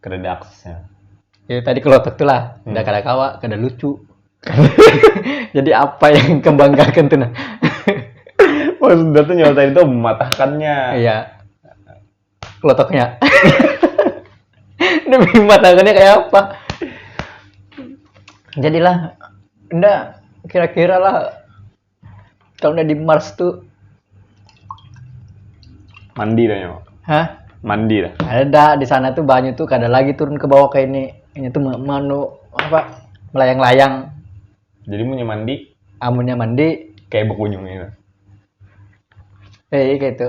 Kedada aksesnya. Ya tadi kelotok tuh lah, hmm. udah kada kawa, kada lucu. Jadi apa yang kebanggakan tuh nah? Maksudnya tuh nyata itu mematahkannya. Iya. Kelotoknya. Demi mematahkannya kayak apa? Jadilah, enggak kira-kira lah kalau udah di Mars tuh mandi dah nyawa hah mandi dah ada dah di sana tuh banyu tuh kada lagi turun ke bawah kayak ini ini tuh manu apa melayang-layang jadi punya mandi amunnya mandi kayak bekunyung gitu eh kayak itu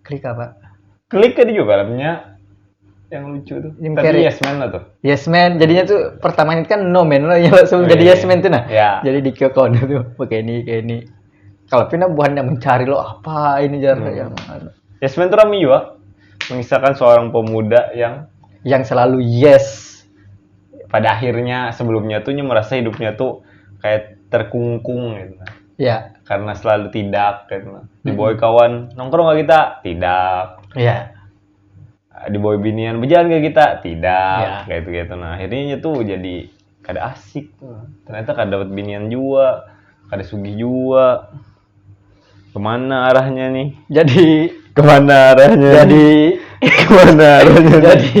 Klik apa? Klik ada juga filmnya yang lucu tuh. Jim Tapi Carrey. Yes Man lah tuh. Yes Man, jadinya tuh pertama itu kan no man lah yang langsung Oh, jadi iya, yes iya. man tuh nah. Iya. Jadi di Kyokon tuh pakai ini kayak ini. Kalau Pina buhannya mencari lo apa ini jar Hmm. yang anu. Yes Man tuh rame juga. Mengisahkan seorang pemuda yang yang selalu yes. pada akhirnya sebelumnya tuh nya merasa hidupnya tuh kayak terkungkung gitu. Ya. Karena selalu tidak kan. Di boy kawan nongkrong gak kita? Tidak. Ya. Di boy binian berjalan gak kita? Tidak. Ya. Kayak itu gitu. Nah akhirnya tuh jadi kada asik. Ternyata kada dapat binian juga, kada sugih juga. Kemana arahnya nih? Jadi kemana arahnya? Jadi kemana arahnya? Jadi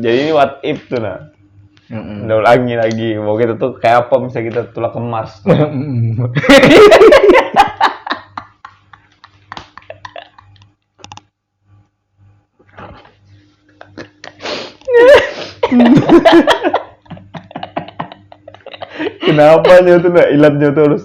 jadi what if tuh nah Mm-mm. udah ulangi lagi mau kita tuh kayak apa misalnya kita tulak ke Mars kenapa nyoto nah ilatnya tuh harus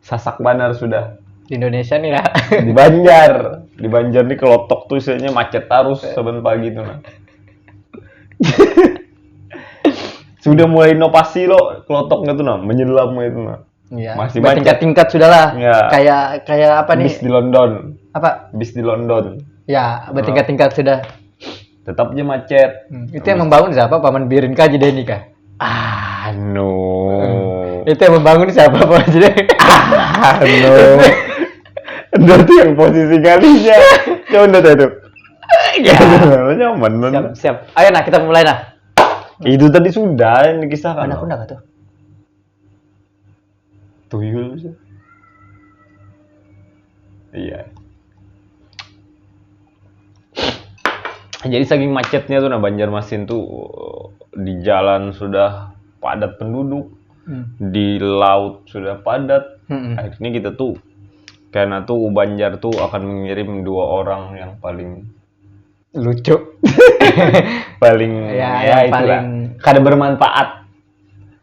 sasak banar sudah di Indonesia nih ya di Banjar di Banjar nih kelotok tuh isinya macet terus saban pagi tuh nah. sudah mulai inovasi lo kelotoknya tuh nah menyelam itu nah ya, masih macet tingkat-tingkat sudahlah ya. kayak kayak apa nih bis di London apa bis di London ya bertingkat-tingkat sudah tetap aja macet hmm. itu yang membangun siapa paman birin kaji deh nikah anu hmm. itu yang membangun siapa paman jadi anu berarti yang posisi kalinya coba udah itu ya nyaman siap, siap ayo nah kita mulai nah itu tadi sudah ini kisah kan aku enggak tuh tuyul bisa iya jadi saking macetnya tuh nah Banjarmasin tuh eh, di jalan sudah padat penduduk hmm. di laut sudah padat hmm. akhirnya kita tuh karena tuh Banjar tuh akan mengirim dua orang yang paling lucu paling ya, ya itulah paling... kada bermanfaat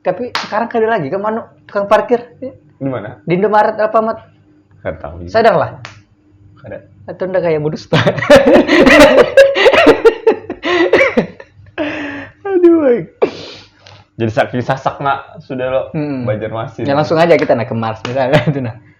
Tapi sekarang kada lagi ke mana tukang parkir di mana? di Indomaret Alfamart. Kada tahu. juga. Sadar lah. Kada. Atau ndak kayak berdusta. Aduh. ay. Jadi saking sasakna sudah lo Hmm. Banjarmasin. Ya langsung aja kita naik ke Mars misalnya itu nah.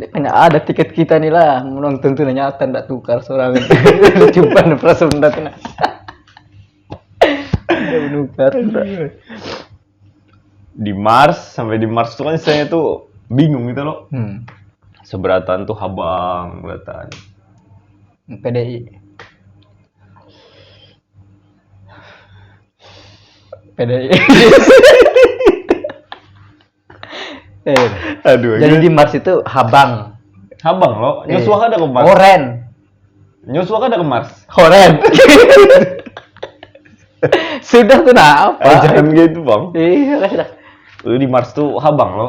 Tidak ada tiket kita nih lah, menonton tuh nyata tidak tukar seorang. Coba nih perasaan tidak tuh. Menukar. Di Mars sampai di Mars tuh kan saya tuh bingung gitu loh. Hmm. Seberatan tuh habang beratan. PDI PDI eh, aduh jadi di Mars itu habang habang lo eh. nyusuh ada ke Mars oren nyusuh ada ke Mars oren sudah tuh nah apa eh, jangan gitu bang iya sudah di Mars tuh habang lo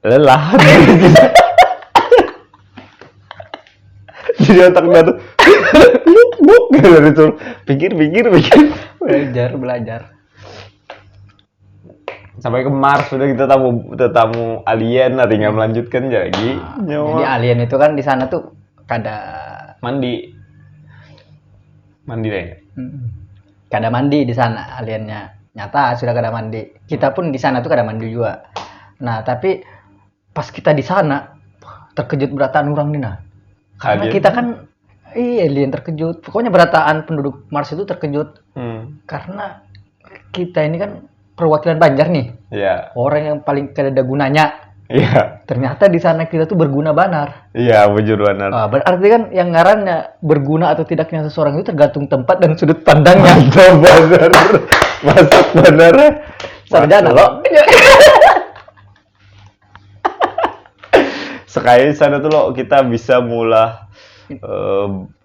lelah jadi otak dia tuh buk buk dari itu pikir pikir pikir belajar belajar sampai ke Mars sudah kita tamu kita tamu alien nanti nggak melanjutkan jadi nah, nyawa. jadi alien itu kan di sana tuh kada mandi mandi deh hmm. kada mandi di sana aliannya nyata sudah kada mandi kita pun di sana tuh kada mandi juga nah tapi pas kita di sana terkejut berataan orang nih nah karena alien. kita kan iya alien terkejut pokoknya berataan penduduk Mars itu terkejut hmm. karena kita ini kan perwakilan Banjar nih. Iya. Orang yang paling kada ada gunanya. Iya. Ternyata di sana kita tuh berguna banar. Iya, bujur banar. Ah, berarti kan yang ngarannya berguna atau tidaknya seseorang itu tergantung tempat dan sudut pandangnya. Mantap banar. Masuk banar. ya. Sarjana Masuk. lo. Sekali sana tuh lo kita bisa mulah eh,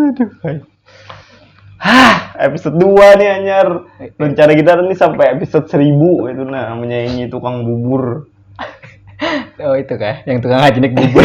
Aduh, Hah, episode 2 nih anyar. Rencana kita nih sampai episode 1000 itu nah menyaingi tukang bubur. oh itu kah, yang tukang ngajinik bubur.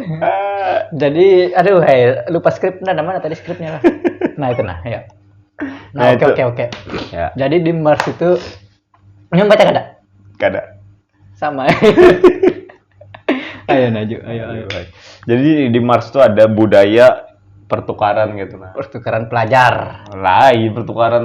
Eh, jadi aduh hey, lupa skrip nah mana tadi skripnya lah nah itu nah ya nah, nah oke oke oke ya. jadi di Mars itu yang baca kada kada sama ayo naju ayo ayo jadi di Mars itu ada budaya pertukaran gitu nah pertukaran pelajar lain pertukaran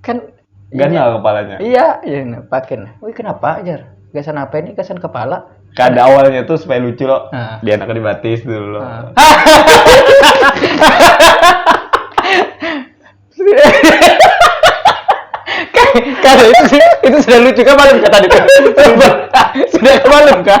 kan ganal kepalanya iya iya nah, pakin wih kenapa ajar gasan apa ini gasan kepala kada awalnya tuh supaya lucu loh nah. dia anak dibatis dulu loh nah. Karena itu, itu sudah lucu kan malam kata itu. Sudah malam kah?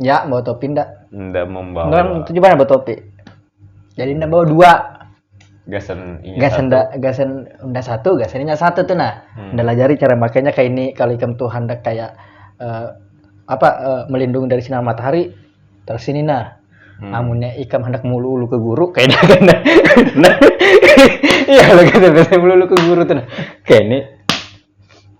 Ya, bawa topi ndak? Ndak membawa. Nggak, itu juga nggak bawa topi. Jadi ndak bawa dua. Gasan ini Gasan satu. ndak gasan ndak satu, gasan inya satu tuh nah. Hmm. Ndak lajari cara makainya kayak ini kalau ikam tuh hendak kayak eh, apa eh, melindungi dari sinar matahari terus ini nah. Hmm. Amunnya ikam hendak mulu-ulu ke guru kayak ini kan nah. Nah, Iya, lo gasan biasanya mulu-ulu ke guru tuh nah. Kayak ini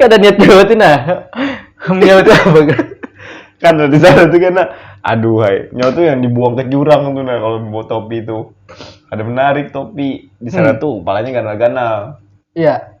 kada niat jawab tuh nah nyawa tuh apa kan kan di sana tuh kan nah, aduh hai nyawa tuh yang dibuang ke jurang tuh nah kalau mau topi itu ada menarik topi di sana hmm. tuh palanya ganal-ganal iya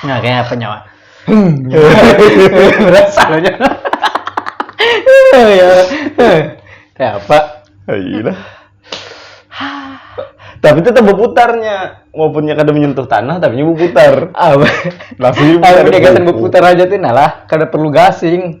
Nah, kayak apa nyawa? Berasa lo nyawa. ya. Kayak apa? Ayolah. Iya tapi tetap berputarnya walaupun kada menyentuh tanah tapi berputar apa tapi berputar aja tuh nah lah kada perlu gasing